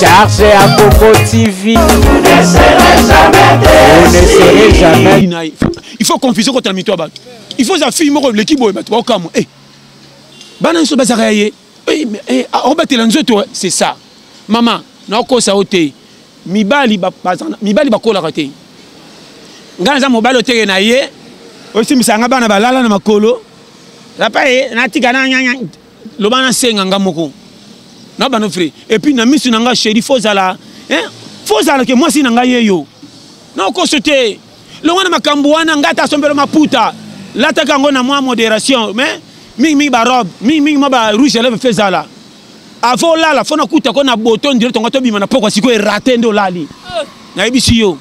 Charge à Coco TV. Vous ne serez jamais Vous ne serez jamais. Il faut confusion contre la mito bato. Il faut affaire moko leki boye bato baokamwa. Eh. Bana nso bazaka ye. Eh, eh, ah, obatela nzoto c'est ça. Maman, naokosa yo te. Mibali mibali bakolaka te. Ngai naza mobali oteke na ye. Osimbisa nga bana balala na makolo. Papa ye natika na loba na senga nga moko na bano fre et puis na misu na nga chéri faut zala hein faut zala ke mwasi na nga ye yo na okoso te longo na makambo wana nga ta sombelo maputa lataka yango na mwa modération mais mingi mingi ba robe mingi mingi mwa ba rouge à lèvres fait zala avant olala fo nakuta ko na boto ndire tonga tobima na pokwa sikoyo erate nde olali nayebisi yo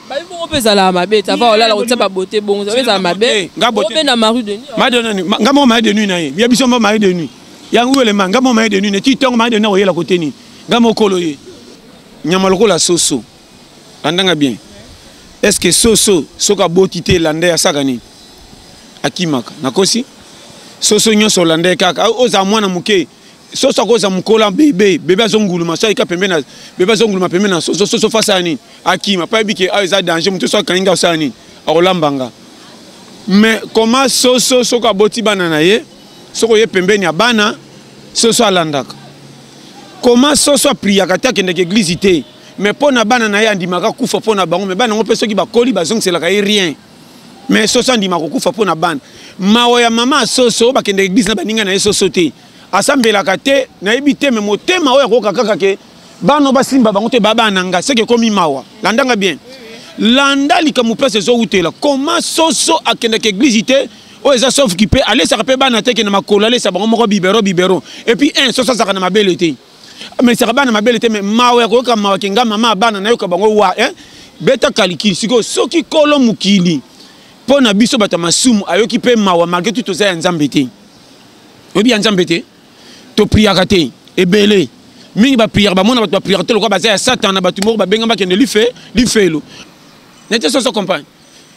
babi bongo mpe ezalaka mabe te ava olala kotia babote bongo ezalaka ezala mabe obe na marie de nuit marie de nuit nga moko marie de nuit na ye ya biso moko marie de nuit yango elema nga moko marie de nuit na ti ntongo marie de nuit akoyela kote nini nga mokolo ye nyama lokola soso landanga bien est ce que soso soki aboti te landa asaka nini akimaka nakosi soso nyonso olanda ye kaka ozala mwana moke soso akoza mokola bebe bebe azonguluma so ayika pembe na bebe azonguluma pembe na soso soso fasi ya nini akima mpo ayebi ke awa eza danger moto so akangi nga osala nini akolamba nga mais koma soso soki aboti bana na ye soki oye pembeni ya bana soso alandaka koma soso apriyaka te akendeke eglize te mais mpo na bana na ye andimaka kufa mpo na bango mais bana yango mpe soki bakoli bazongiselaka ye rien mais soso andimaka kokufa mpo na bana mawa ya mama ya soso bakendeke eglize na baninga na ye soso te asambelaka te nayebi te me motema oyo akoyoka kaka ke bana basimba bango te baba na ngai seke ekomi mawa landanga bien landa likambo place ezowutela koma soso akendaka eglize te oyo eza sauf ki mpe alesaka mpe bana teke na makolo alesa bango moko bibero bibero epuis un soso azalaka na mabele te amesaka bana mabele te me mawa ya koyoka mawa kenga mama ya bana nayoka bango wa eh? beta kalikili sikoyo soki kolo mokili mpo na biso bato ya masumu ayoki mpe mawa malgre tu toza ya nzambe te oyebi ya nzambe te topriaka te ebele mingi bapriaka bamona bato bapriaka te lokola baza ya satana bato moko babenga bakende life lifelo nete soso compagne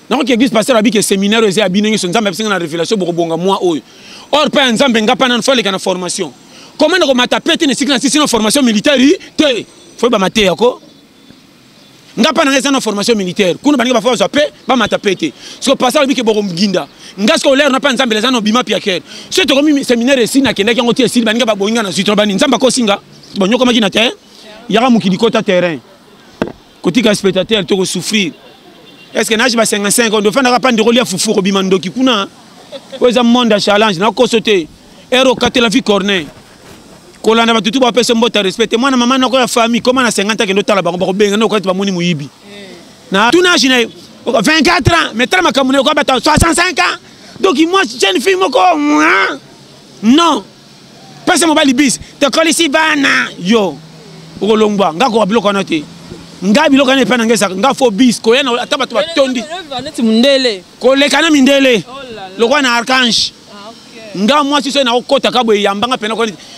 nakoki eglise pasteur abiki eseminaire eza ya bino nyonso nzambe abisinga na révélation bokobonga mwa oyo or mpe ya nzambe nga mpa nano faleka na formation koma nakomata pete na esika na sisi na formation militaire te foyeba mateya ko nga mpa na ngai eza na formation militaire kuna baninga bafa bazwa mpe bamata mpe te siko pasa alobi ke bokomginda nga siko olere na mpa nzambe eza na obima piakere so tokomi seminaire esi nakendaki yango te esili baninga baboyi nga na zwi tolobani nzambe akosi nga banyokomaki na te yaka mokili kota terrain kotika spectateur to kosouffrir est ce que nage ba 55 ondo ofandaka mpa ndeko lia fufu okobima ndoki kuna oyo eza monde ya challenge nakoso te ero okatela vie corneille kolanda bato tu bapesa mbota respect te mwana mama noko ya famille koma na 50 akende otala bango bakobenga noko ete bamoni moyibi na tunage na ye 24 ans mais tala makambo na ye okoya bato 65 ans donc moi jeune fille moko non pesa mobali bis tokolisi bana yo okolongwa nga koka biloko wana te nga biloko wana epai na nga ezaka nga fo bis koya ata bato batondi koleka na mindele oh lokola na archange nga mwasi soki nakokota ka boye yambanga mpena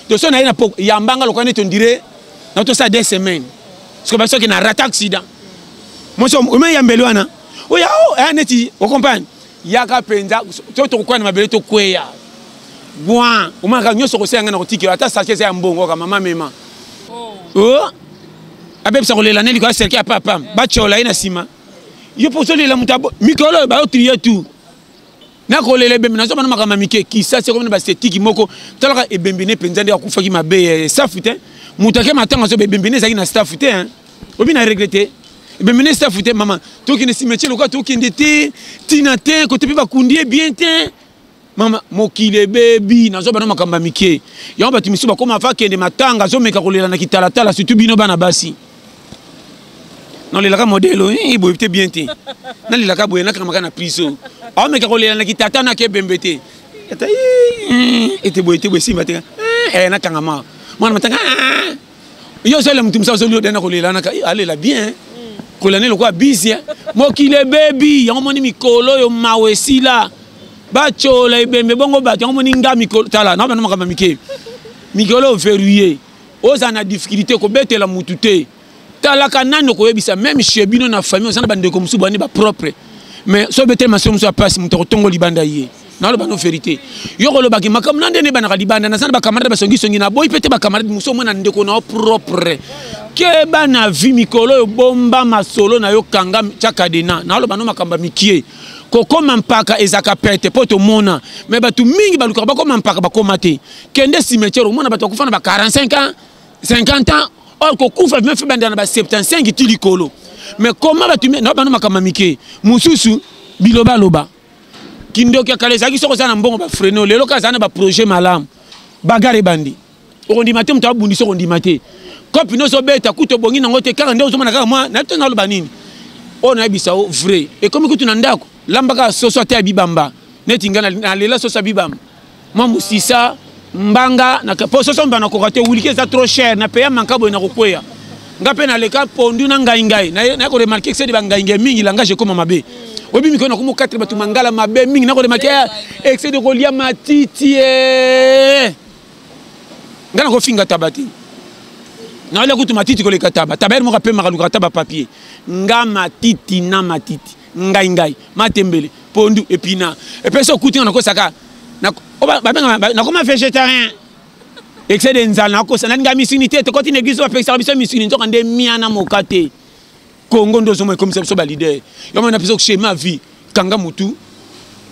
to soki naye yambanga lokola neti ondire na tosala de semaine soki basoki na rata accident mwasi oma yambeli wana oya oh, eh, neti ocomprane yaka mpenza soki tokokwea na mabele tokweya gwa omanaka nyonso kosenga ngai na kotikela ata sake eza ya mbongo ka mama mema oh. oh. abebisa kolela neli koya serke ya papa batyola ye na nsima yo mpo ozolela moto mikolo oyo bayotriye tu nakolela ebembe nazoba na makambo ya mike kisasi ekomi na basetiki moko talaka ebembe ne mpenza nde akufaki mabe eh, staff te moto ake matanga azoba ebembe ne ezalaki na staff te eh. obi na regle te ebembe ne staff te mama tokende simetier lokola tokende te ntina te kote mpe bakundi ye bien te mama mokili ebebi nazoba na makambo ya mike yango bato misusu bakoma fa kende matanga azomeka kolela na kitalatala surtout bino bana basi nalelaka modele oyo eh, boye te bien te nalelaka boye nakangamaka na priso aomeka kolela na kitata na kebembe te ata eh, ete boye te boye simba te eh, nakangama mwana matanga ah, yo ozolela motu mosa ozoli odana kolela naka alela bien kolani lokola bisia mokili ebebi yango moni mikolo oyo mawa esila batyola ebembe bongo bato yango moni nga mikolo tala na bana makambo mike mikolo oyo verrouille oza na difficulté kobetela mutu te talaka nani okoyebisa meme chez bino na famille oza na bandeko mosusu bandi bapropre mais so obeteli masolo mosusu ya mpasi moto akotongo libanda ye naloba no verité yo kolobaki makambo na nde nebanaka libanda naza na bacamarade basongisongi naboyi mpe te bacamarade mosusu omona ndeko na yo propre keba na vi mikolo oyo bomba masolo na yo kanga tya kadena naloba no makambo ya mikie kokoma mpaka ezalaka pete mpo tomona me bato mingi balukaka bakoma mpaka bakoma te kende cimetière omona bato bakufa na ba 45 ans 50 ans or kokufa bima fe bandela na ba 75 ti likolo mais koma bato na bana makambo mike mosusu bilobaloba kindoki ya kala ezalaki soki oza na mbongo bafreno lelo kaka azala na baprojet malamu bagare ebandi okondima te moto abundisa okondima te kopi nyonso obeta kutu obongi nango te kaka nde ozomona kaka mwa nayebi te naloba nini oyo nayebisa o vrai ekomi kutu na ndako lambaka soso ata ya bibamba neti ngai nalela soso ya bibamba mwa mosisa mbanga na po soso mbana koka te wiliki eza trop cher na peya manka boye na kokweya nga mpe naleka pondu na ngai ngai na ko remarke kisedi bangai ngai mingi langage ekoma mabe oyebi mikolo na komokatela bato mangala mabe mingi na ko remarke ah, excede kolia matiti eh. nga na kofinga taba te naolia kutu matiti koleka taba taba yere moko apemaka lukaka taba papier nga matiti na matiti ngai ngai matembele pondu epina epesi okuti nga nakosaka nakoma végétarien excès de nzala nakosa nalinga misuni te tokoti na église bapekisaka biso misuni nzoka nde mia na moka te kongo nde ozoma ekomisa biso balider yomana biso schéma vie kanga motu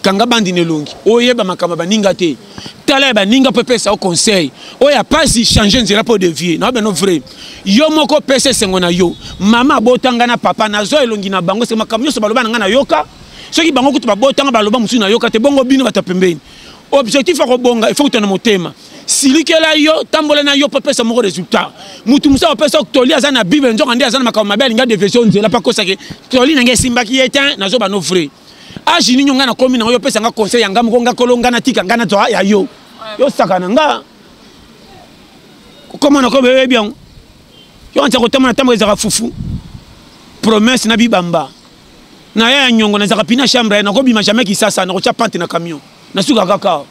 kanga bandi na elongi oyeba makambo ya baninga te tala ya baninga mpo epesa yo conseil oyo ya mpasi change nzela mpo devie na bino vrai yo moko pesa esengo na yo mama abotanga na papa nazwa elongi na bango se makambo nyonso baloba na ngai nayoka soki bango kutu babotanga baloba mosusu nayoka te bongo bino bato ya pembeni objectif ya kobonga efo kuta na motema silikela yo tambola na yo mpo pesa moko résultat motu mosusu akopesa toli aza na bible nzoka nde aza na makambo mabe alingi adevesio nzela mpo akosaki toli na ngai esimbaki ye te nazoba no vrai age nini ngai nakomi nango yo opesa nga conseil ya nga moko nga kolo nga natika nga nazwa ya yo yo saka na nga kokoma nakomi oyebi yango yo anza kotama na ntango ezalaka fufu promesse na bibamba na ya ya nyongo nazalaka pina chambre air nakobima jamais kisasa nakotya pante na camion nasuka kaka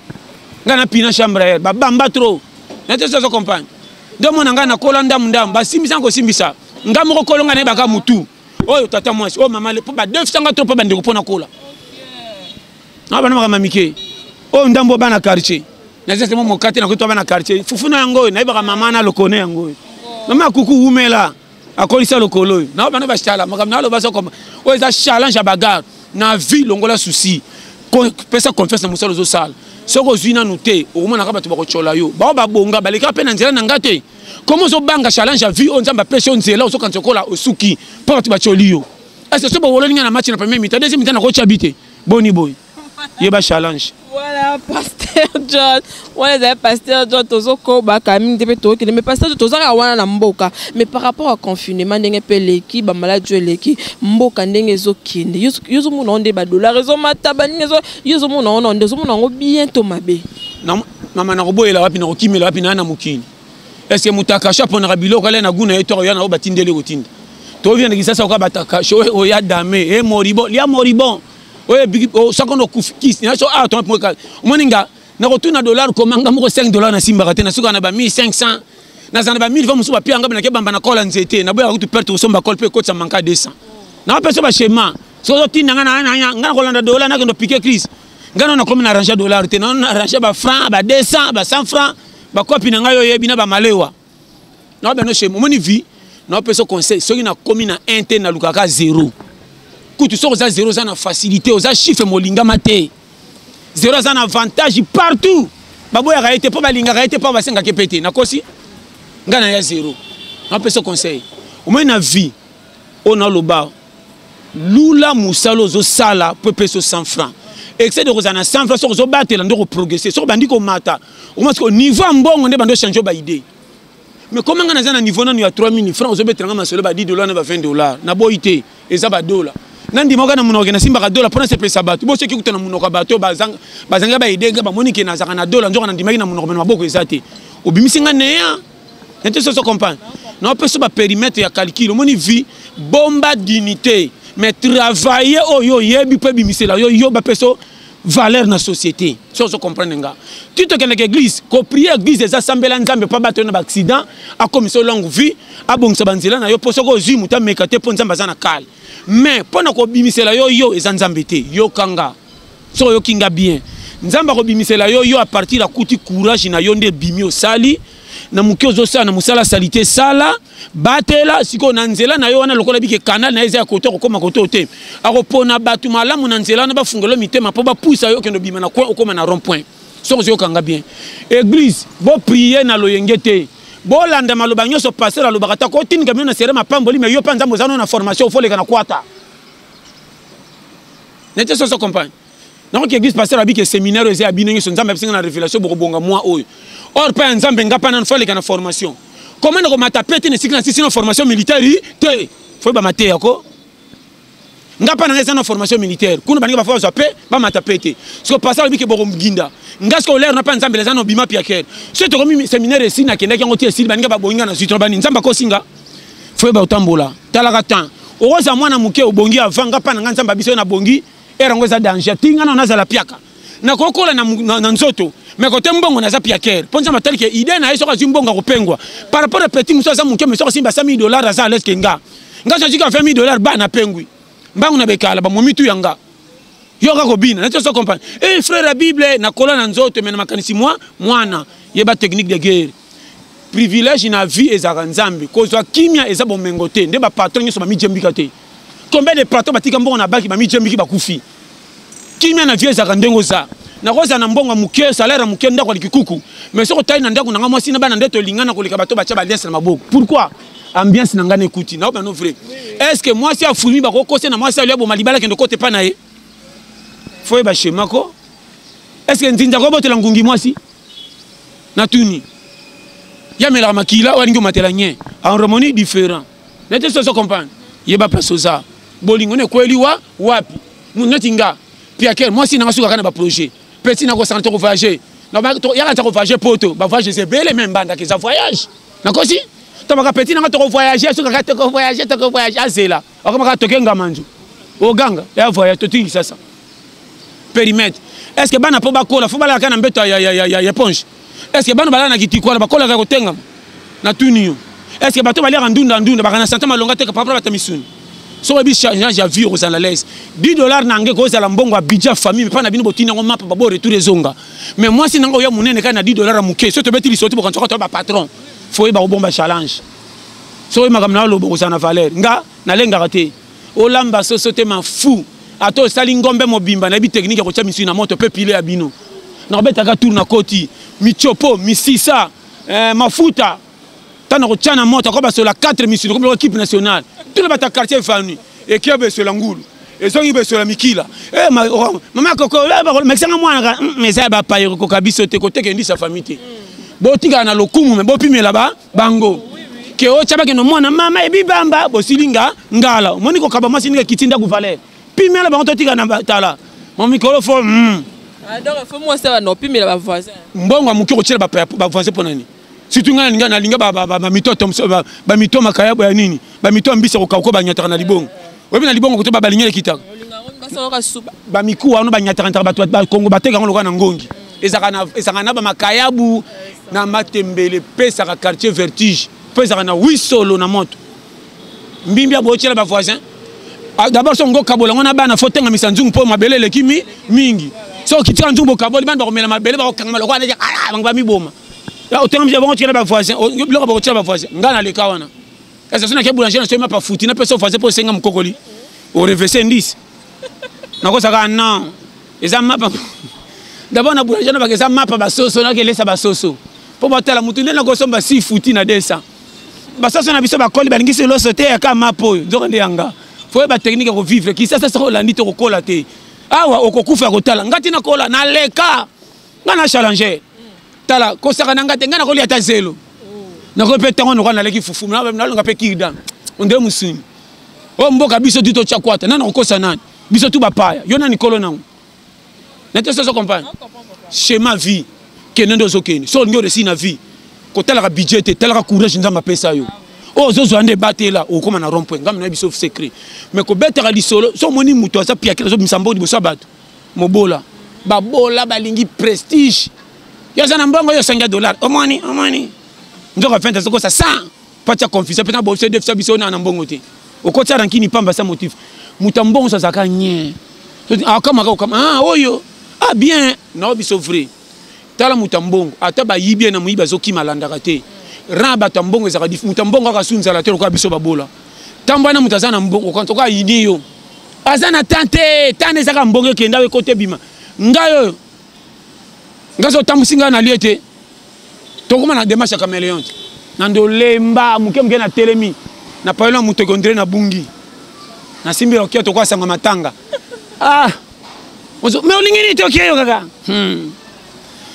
ngai na pina chambre air babamba trop nateso azo comprendre nde omona ngai nakola ndamu ndamu basimbisa nkosimbisa ngai moko kolonga nayebaka motu oyo tata mwasi oyo mama mpo badefisanga to mpo bandeko mpo nakola na bana makambo mike oyo ndambo oyo bana quartier naza temo mokate nakoki to bana quartier fufu na yango oyo nayebaka mama na lokone yango oyo mama ya kuku wumela akolisa lokolo oyo na bana bashala makambo na aloba soko oyo eza challenge ya bagarre na vie longola souci pesa confiance na mosala ozosala soki ozwi nanu te okomonaka bato bakotyola yo bao babonga balekaka mpe na nzela na ngai te Comment ozo banga challenge à vie on nzamba pêche on zela ozo kanzo kola osuki pa batu bacholi yo. Est-ce que sobo wolo ninga na match na premier mi-temps deuxième mi-temps na ko chabite. Boni boy. Ye ba challenge. Voilà pasteur John. Voilà les pasteur John tozo ko ba kami ndebe to kende mais pasteur tozo ka wana na mboka mais par rapport à confinement ndenge pe leki ba malade jo leki mboka ndenge zo kende. Yo zo mona onde ba dollars zo mata ba ninga zo yo zo mona onde zo mona ngo bien to mabe. mama nakoboyela wapi nakokimela wapi naa na mokili eske moto akashe aponaka biloko alya na gu na ye to akoya na oyo batindeli kotinda toovia na kisasa oka bato akashe oyo oya dame e moribon lia moribon oyo oh, soko nokufi kisi naso awa ah, tomapoka omoni nga nakotuna dollar komanga moko 5 dollar nasimbaka te nasuka na ba 1500 naza na ba 1000 va mosusu bapia nga nake bamba na kola nzete naboyaka kutu perte kosomba kole mpe ekotisa manka 200 napesa bashema soki ozotinda nga nga nakolanda dollar nakendo pike crise ngai nano nakomi na arrange dollar te nano na arrange ba franc ba 200 ba 100 franc bakopi na ngai oyebi na bamalewa nao bino chez omoni vie naopesa conseil soki nakomi na 1 te nalukaka zero kutu soki oza zero oza na facilité oza chiffre molingama te zero aza na avantage partout baboyaka ye te mpo balingaka ye te mpo basengaka ye mpe te nakosi ngai naya zero napesa conseil omoi na vie oyo naloba lula mosala ozosala mpo epeso 100 franc excès de kozala na 100 franc soki ozobatela nde okoprogresse soki obandi komata omasi ko niveau ya mbongo nde bandi ochange baide mais koma ngai naza na niveau nano ya 3000 franc ozobetela ngai masolo ba 10 dollar na ba 20 dollar naboyi te eza badola nandimaka na monoko nasimbaka dola mpo nasepelisa bato bo soki kuta na monoko ya bato bazangai baide ngai bamoni ke nazalaka na dola nzoka nandimaki na monoko me na maboko eza te obimisi ngai neya nete soso compagne na opesa ba périmètre ya calcul omoni vie bomba dignité mais travailler oyo oyebi mpe ebimisela yo yo bapesa valeur na société so ozo comprendre nga ti tokendeke église koprie église eza sambela nzambe mpo abato yo na baaccident akomisa yo longue vie abongisa banzela na yo mpo soki ozwi moto ameka te mpo nzambe aza na kale mais mpo na kobimisela yo yo eza nzambe te yokanga soki oyoki nga bien nzambe akobimisela yo yo apartir akuti courage na yo nde ebimi osali na moke ozosala na mosala salite sala batela sikoyo na nzela na yo wana lokola bike kanal na ye eza ya koto akokoma koto te akopona bato malamu na nzela wana bafungelo mitema mpo bapusa yo okende obima na coin okoma na rond point soki ozoyokanga bien eglise boprie na loyenge te bolanda maloba nyonso paster alobaka ta kotindika bino na sere mapamboli me yo mpe nzambe oza no na formation ofoleka na kwata nete soso compagne nakoki église pasteur abi ke séminaire eza ya bino nyonso nzambe apesi nga na révélation bokobonga mwa oyo or mpe ya nzambe nga mpe nano faleka na formation koma na komata pete na esika na sisi na formation militaire yi te foye bamateya ko nga mpa na nga eza na formation militaire kuna baninga bafa bazwa mpe bamata mpe te soko pasi alobi ke bokoginda nga soko olere na mpe nzambe eza na obima piakere so tokomi seminaire esili nakendaki yango te esili baninga babongi nga na zwi tona bani nzambe akosi nga foyeba otambola talaka temps okozala mwana moke obongi avant nga mpa na nga nzambe abiso ye nabongi ere yango eza danger ti nga nao nazala piaka nakokola na, na, na nzoto me kote mbongo naza piakere mpo nzambe atali ke idee na ye soki azwi mbongo akopengwa par rapport ya petit mosusu aza moke me soki asimba 100 dollar aza alaise ke nga nga soki ka 20 dollar ba napengwi mbangu na bekala bamomi tu ya nga yoka kobina nati oso comprendre e eh, frère ya bible nakola na nzoto me na makanisi mwa mwana yeba technique de guerre privilège na vie ezalaka nzambe kozwa kimia eza bomengo te nde bapatron nyonso bamijembika te combien de patron batika mbongo na baki bamijembiki bakufi kimia na vie ezalaka ndenge oza nakozala na mbongo ya moke salaire ya moke ndako ya likikuku mais soki otali na ndako na ngai mwasi na bana nde tolingana koleka bato batya baliase na maboko pourquoi ambiance na ngai na ekuti na obano vrai est ce que mwasi afulmi bakokosi na mwasi alio aboma libala kende kote epai na ye fo yeba shemako est ce que nzinza kobotela ngungi mwasi na tuni ya melaka makila walingi omatela nye harmonie différent nete soso comprendre yeba place oza bolingo nekweli wa wapi mutu neti nga piakel mwasi nanga sukaka na baprojet peti nakosana toko voyage yaka toko voyage poto bavoyage eza ebele me mbandaka eza voyage nakosi tomaka peti nanga toko voyage sukaka toko voyage toko voyage azela akoma kaka toke ngamanzu oganga ya voyage totingi sasa perimetre est ce que bana mpo bakola fo balaka na mbeto ya, ya, ya, ya, ya ponge est ce que bana balaka na kitiko wana bakolaka kotengama natuni yo est ce que bato baliaka ndunda ndunda baka na sante malonga te kapapra bata misuni soki oyebi change ya vie okozala lese 10 dollar na nge kozala mbongo ya bidja famille mpa na bino botini yango mapa babo retour ezonga mais mwasi na ngai oya monene kai na 10 dollar ya moke soki tobeti lisoti bokanisa kaka to bapatron foye bakobomba challenge soki makambo na yo aloba okozala na valeur nga nalengaka te olamba soso te mafu ata osali ngombe mobimba nayebi teknike ya kotya misuni na moto mpe pile ya bino nakobetaka tour na koti michopo misisa eh, mafuta ntango nakotya na moto ako basola 4 misuni komi loko kipe nationale tuna bata quartier efani ekia besola ngulu ezongi besola mikila eh, ma, oh, mama koko eh, mekisanga mwana mm, eza ya bapayeri koka biso te koteka endisa fami te botikala na lokumu me bopimela ba bango ke otya bakende mwana mama ebibamba bosili nga ngala omoni kokaba mwasi ndenge kiti ndako valeur pimela bango totika na tala mamikolo fo mm. ah, mbongo ya moke kotyela bavoisin mpo nani surtout ngai nalinga bamito makayabo ya nini bamito ya mbisi ya kokauko banyataka na libongo oyebi na libongo kotoba balingi ekita bamikuwa wana banyatakantaka bato bakongo bateka yango lokola na ngongi ezalaka na bamakayabu na matembele epesaka quartier vertige mpo ezalaka na wisolo na moto mbimbi abotyela bavoisin ah, d'abord so ngo kabola yango na bana fo tengamisa nzungu mpo mabele eleki mi mingi so okitika nzungu bokaboli bana bakomela mabele bakokangama lokola neti bango bamiboma otengamisa bango otyela bavoisin biloko bakotyela bavoisin ngai naleka wana Esa sona ke boulanger na soyi mapa futi na pesa ofase po senga mukokoli. O revese ndis. Na kosa ka non. Esa mapa. D'abord na boulanger na ba esa mapa ba soso na ke lesa ba soso. Po ba tala mutu nde na ko somba si futi na desa. Ba soso na biso ba koli ba lingi se loso te ya ka mapa oyo. Nzoka nde yanga. Fo ba technique ya ko vivre. Kisasa soko landi to ko kola te. Awa okokufa ya kotala. Ngati na kola na leka. nga na challenge tala kosaka na nga te nga nakolia ata zelo nakoki mpe ntango noka naleki fufu nalonga mpe kirdan onde mosuni oyo mboka biso tu totya kwata nani akokosa nani biso tu bapaya yo nani kolo nango nete soso compagne schéma vie kende nde ozokende so olingi oresi na vie kotalaka budget te talaka courage nzambe apesa yo oyo ozozwa nde ebatela okokoma na rond point ngambi na biso secret mais kobetaka lisolo so omoni moto aza piakela azobimisa mbongo liboso ya bato mobola babola balingi prestige yo aza na mbongo yo osangi ya dollar omoni omoni nzoka fente azokosa 100 mpo atya confusion mpe na bobiso defisa biso ona na mbongo te okotya rankini pamba sa motif moto ya mbongo so azalaka nye akamaka okama ah, oyo ah bien nao biso vrai tala moto ya mbongo ata bayibi ye na moyibi azokima alandaka te ran bato ya mbongo ezalaka dif moto ya mbongo kaka sunzala te lokola biso babola ntango wana moto aza na mbongo kantoka ayini yo aza na tan te tan ezaka mbongo ekenda yo ekota ebima ngai oyo ngai zotambusi ngai nalie te tokoma na demarche ya cameleon te na ndolemba moke moke natelemi na payolo ya moto ekondire na bungi nasimbi okia tokoasanga matanga ah me olingi nini te okeyo kaka hmm.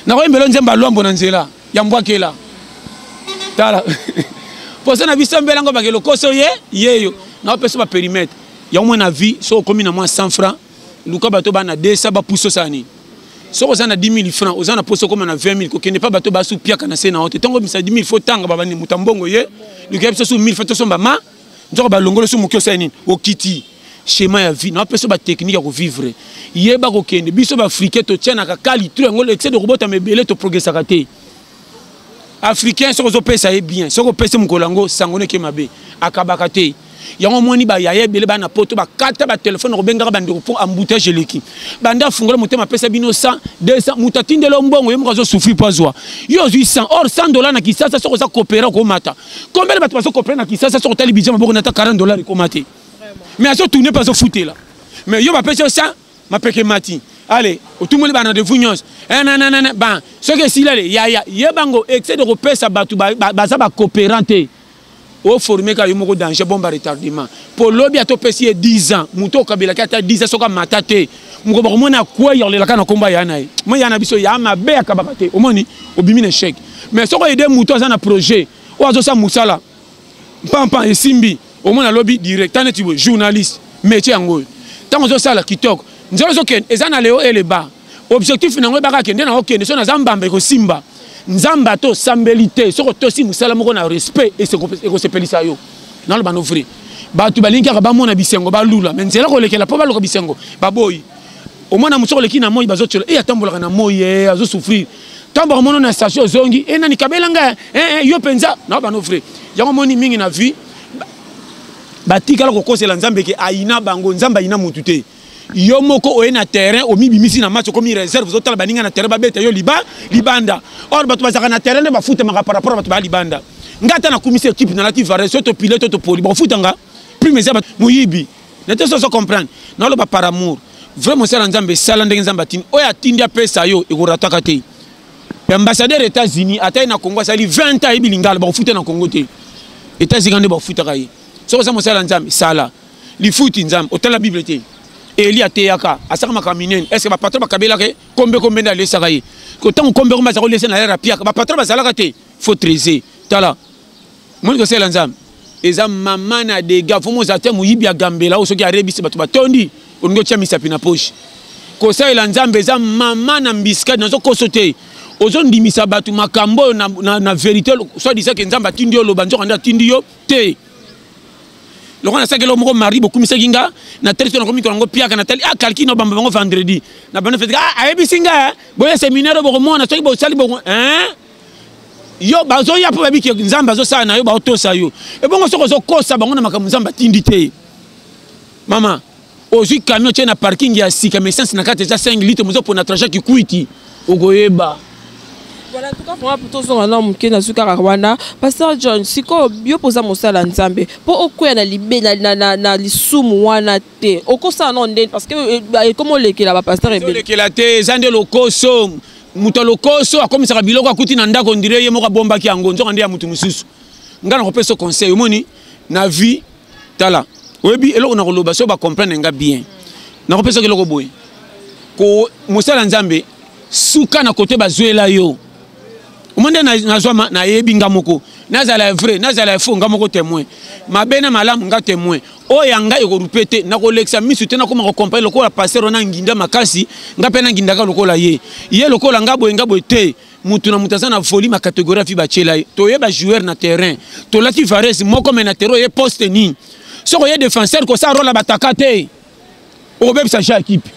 nakoyembelo nzemba lwambo na nzela ya mbwakela tala poso na biso mbela yango bake lokoso ye yeyo naopesa baperimetre yango mwa na vie soki okomi na mwa 100 franc luka bato bana 200 bapuso osala nini soki oza na 10 000 franc oza na poso okoma na 20 000 kokende mpa bato basupiaka na se na yo te ntango obimisa 10 000 fo otanga babandi moto ya mbongo ye luka biso su 1000 fo tosomba ma nzoka balongoli so moke osali nini okiti schéma ya vie napesa batechnique ya kovivre yeba kokende biso baafricain totianaka kali to yango excès de kobotama ebele toprogressaka te africain soki ozopesa ye bien soki opesi mokolo yango sango neke mabe akabaka te yango omoni bayaya ebele bana poto bakata batelefone kobengaka bandeko mpo emboutage eleki banda afungola motema apesa bino 100 200 moto atindela yo mbongo ye moko azosufri mpo azwa yo ozwi 100 or 100 dola na kisasa soki oza kopera okomata combien de bato bazo comprendre na Kinshasa soki otali budget maboko na ta 40 dollars ekoma te mais azo tourner mpe azo futela mais yo bapesi yo 100 mapeke mati ale otumoli ba rendez-vous nyonso eh, nananana ba soki esili ale yaya ye bango excès de kopesa bato baza bacoopérant te oforme kaka yo moko danger bomba retardement mpo lobi ata opesi ye 10 ans moto okabelaki ata 10 ans soki amata te mokolo bakomona akwei olelaka na nkombo ya na ye moi ya na biso ya mabe akabaka te omoni obimi na echec mais soki oyede moto aza na projet oyo azosala mosala mpampa esimbi omona alobi direct ta neti boye journaliste métier yango oyo ntango ozosala kitoko nzela ozokende eza na leo eleba objectif na yango ebaka kende na okende so naza mbamba ekosimba nzambe ata osambeli te soki otosi mosala moko na respect ekosepelisa yo naloba no vrai bato balingi kaka bamona bisengo balula me nzela kolekela mpo baluka bisengo baboyi omwana mosusu oleki na moi bazotyola e eh, atambolaka na moi e eh, azosouffrir ntango bakomono na station ozongi e nani kabela ngai e yo mpenza nao bano vrai yango omoni mingi na vie batikala kokosela nzambe ke ayina bango nzambe ayina motu te yo moko oye na terrain omibimisi na match okomi réserve ozotala baninga na terrain babeta yo liba libanda or bato bazalaka na terrain nde bafutamaka par rapport ya bato baya libanda ngai ata nakumisi ekipe nalati vares to topile to topoli bakofutanga prime eza moyibi na te soso comprendre naloba par amour vrai mosala ya nzambe esala ndenge nzambe atindi oyo atindi apesa yo ekorataka te ambassadeur ya états-unis ata ye na congo asali 20 ans ayebi lingala bakofuta na congo te états-unis nde bakofutaka ye soki oza mosala ya nzambe sala lifuti nzambe otala bible te eli ateyaka asaka makambo minene estce bapatron bakabelaka ye kombe kombe nde alesaka ye ntango kombe kombe aza kolesa na yare apiaka bapatron bazalaka te fo trese tala moni kosala nzambe eza mama na dega fo moza te moyibi agambela oyo soki arebisi bato batondi olingi otya misapi na poche kosalela nzambe eza mama na mbiskadi nazokoso te ozondimisa bato makambo oyo na, na, na verité soit disake nzambe atindi yo oloba nzoka nde atindi yo te lokola nasalaki eloko moko mardi bokumisaki nga natali so nakomi kolango piaka natali a ah, kalki na bamba bango vendredi na banda fetiki ah, ayebisi nga eh. boya seminaire bokomona soki bosali boko eh? yo bazoya mpo babiki nzambe azosala na yo baotosa yo ebongo soki ozokosa bango na makambo nzambe atindi te mama ozwi camion tie na parking ya sika mais essence na kati eza 5 litre mozo pona trajet kikwiti okoyeba voilà tuka vraiment mpo tozonga na moke nazwi kaka wana pasteur john sikoyo yo mpo oza mosala nzambe mpo okweya na libe na, na, na, na lisumu wana te okosala nao ndeni parce que eh, eh, ekomi olekela bapasteur ebelekela te eza nde lokoso moto ya lokoso akomisaka biloko akuti na ndako ndire ye moko abombaki yango nzoka nde ya moto mosusu ngai nakopesa conseil omoni na vie tala oyebi eloko na koloba so bacomprendre nga bien nakopesa oki eloko boye ko mosala nzambe suka na kote bazwela yo omoni nde nazwama nayebi nga moko nazala ya vrai nazala ya faux nga moko témoin mabe na malamu nga témoin oyo ya ngai ekorupe te nakolekisa misu te nakoma kokomprene lokola paster wana nginda makasi nga mpe nangindaka lokola ye ye lokola nga boye nga boye te mutu na mutu aza na volume ya catégorie afi batyela ye toye bajoueur na terrain tolaki vares moko me na terrain oye poste nini soki oye défenseur kosala role ya bataka te obebisa ja ekipe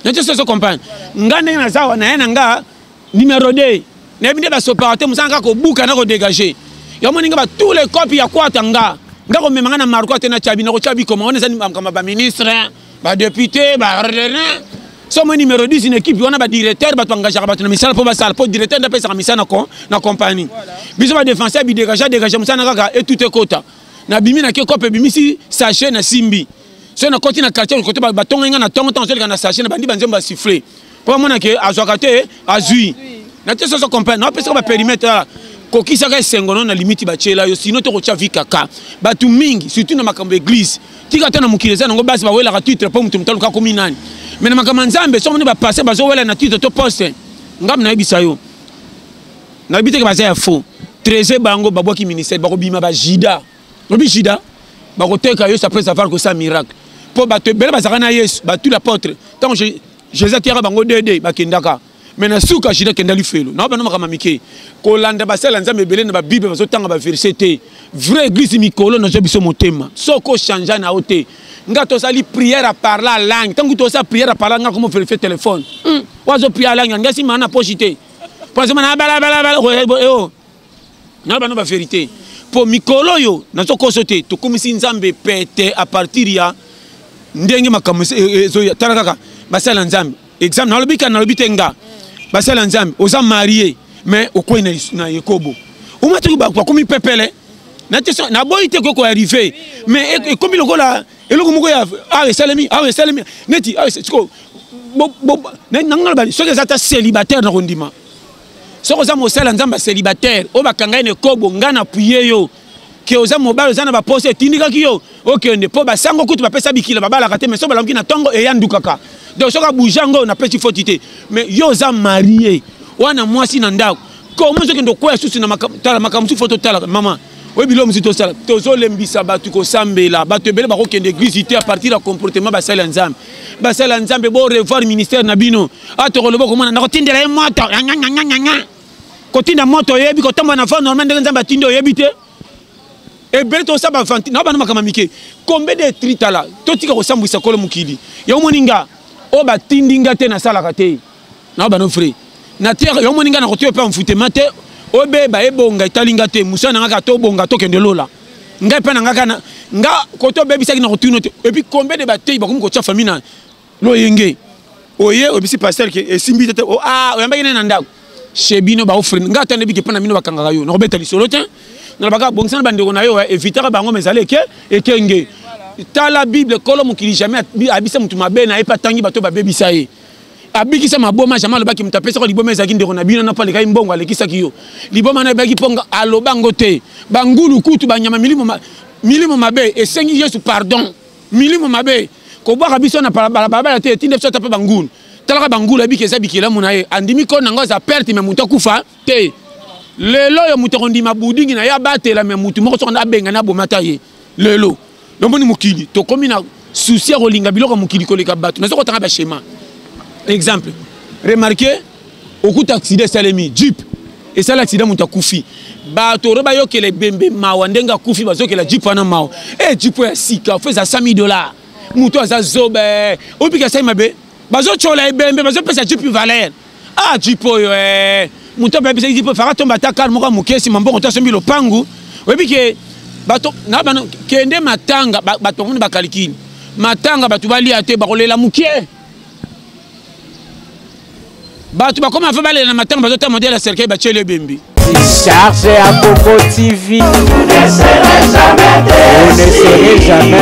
natie soso compagne ngai ndenge naza awa naye na nga numero 2 nayebi nde basopaka te mosala kaka kobuka na kodégage yo moni ngai batout le cope ya kwata nga nga komema ngai na marko ate na cabi nakotya bikoma wana eza makambo ya baministre ba député ba somo numéro 10 na équipe wana badirecteur bato engagaka bato na misala mpo basala mpo directeur nde apesaka misala na compagnie biso badefenseur bidégagea dégagea mosala na kaka etut ekota nabimi na ke cope ebimisi sachet na simbi soki nakoti na quartier kote batongai ngai na tongo ntango azoleka na sachet na bandi banzembo basufle mpo amona ke azwaka te azwi na te soso comprendre napesaka baperimetre ala kokisaka esengo no na limiti batyela yo sino te kotya vi kaka bato mingi surtout na makambo ya eglize tika ata na mokili eza nango basi bawelaka titre mpo moto moto aluka komi nani mai na makambo ya nzambe soki moni bapaster bazowela na titre to poste ngambo nayebisa yo nayebi teke baza ya faux trese bango babwaki ministère bakobima bajida lobi jida bakoteka yesu après avoir kosala miracle mpo bato ebele bazalaka na yesu batuli apotre ntango jesus ateyaka bango dede bakendaka me na suka jida kenda lifelo na bana makambo mike kolanda basala nzambe ebele na babible bazotanga baverse te vrai église mikolo nazwa biso motema soki ochangea na yo te nga tosali prière a parla langue ntango tosala prière a parla nga komo verifie téléphone hmm. wazo prière langue nga simana na poche te mpo azomana balabala na bana ba verite mpo mikolo oyo nazokoso te tokumisi nzambe pete a partir ya ndenge makambo e, e, ezoya tala kaka basali ya nzambe example nalobi kaka nalobi te nga basali ya nzambe oza marie mais okwei na, na ekobo omatoki bakomi pepele naboyi te koki koarrive mais e, ekomi lokola eloko moko ya awa esalemi awa esalemi neti siko nangaloba soki eza ata célibataire na kondima soki oza mosali ya nzambe célibataire oyo bakanga ye na ekobo ngai na puye yo ke oza mobali oza na baposa etindikaki yo okende mpo basango kutu bapesa bikila babalaka te mai so balamuki na ntongo eyandukaka donc soki abouge yango napesi foti te mais yo oza marie wana mwasi na ndako komo ozokende okwea susu na tala makambo mosusu fo totalaka mama oyo biloko mosusu tosala tozolembisa bato kosambela bato ebele bakokende eglise te apartir ya comportement basali ya nzambe basali ya nzambe bo revoir ministère na bino a tokoloba komona na kotindela ye moto yanganganganganga kotinda moto oyebi kotambola na va normal ndenge nzambe atindi oyebi te ebele tosala bavanti na bana makambo mike kombe de tritala totika kosambwisa kolo mokili yango moni nga oyo batindi nga te nasalaka te na bano frais na terre yo moni nga na kotoyo pe enfutema te obeba ebonga etali nga te mosala na nga kaka tobonga tokende lola ngai mpe na nga kana nga koto obebisaki na kotuna te epuis combien de bateyi bakomi kotya famille na loyenge oye oyebisi paster ke esimbi te te oh, ah, oyambaki nani na ndako chez bino baofrene ngai ata ndebiki mpo na bino bakangaka yo nakobeta lisolo te nalobaka bongisana bandeko na yo evitaka bango ma ezali eke ekenge tala bible kolo mokili jamais abisa motu mabe na ye mpe atangi bato babebisa ye abikisa maboma jama alobaki moto apesaka liboma ezalaki ndeko na bino na mpo alekaki mbongo alekisaki yo liboma na ebaki mpo aloba yango te bangulu kutu banyama milimo, ma, milimo mabe esengi yesu pardon milimo mabe kobwaka biso na balabala te etinda biso ata mpe bangulu talaka bangulu abiki eza bikelamu na ye andimi koni yango aza perte me moto akufa te lelo oyo moto akondima budingi na ye abatela me motu moko soki abengani abomata ye lelo nomoni mokili tokomi na souci ya kolinga biloko ya mokili koleka bato nazo kotanga bashema exemple remarke okuta aksida esalemi jeep esala aksida moto akufi bato oro bayokela ebembe mawa ndenge akufi bazokela jeep wana mawa e jeep ya sika fo eza 100 dollar moto aza zobe opika sai mabe bazotyola ebembe bazopesa jeep valeur ah jipe oyo eh. moto abebisaki jipe faka tomba ata kar moko ya moke nsima mbongo to asombi lopangu oyebi ke bato na bano kende matanga bato bamoni bakalikili matanga bato balia te bakolela moke bato bakoma fa balela na matanga bazotala modele ya cercueil batieli ebembi charge ya koko tv vous ne serez jamais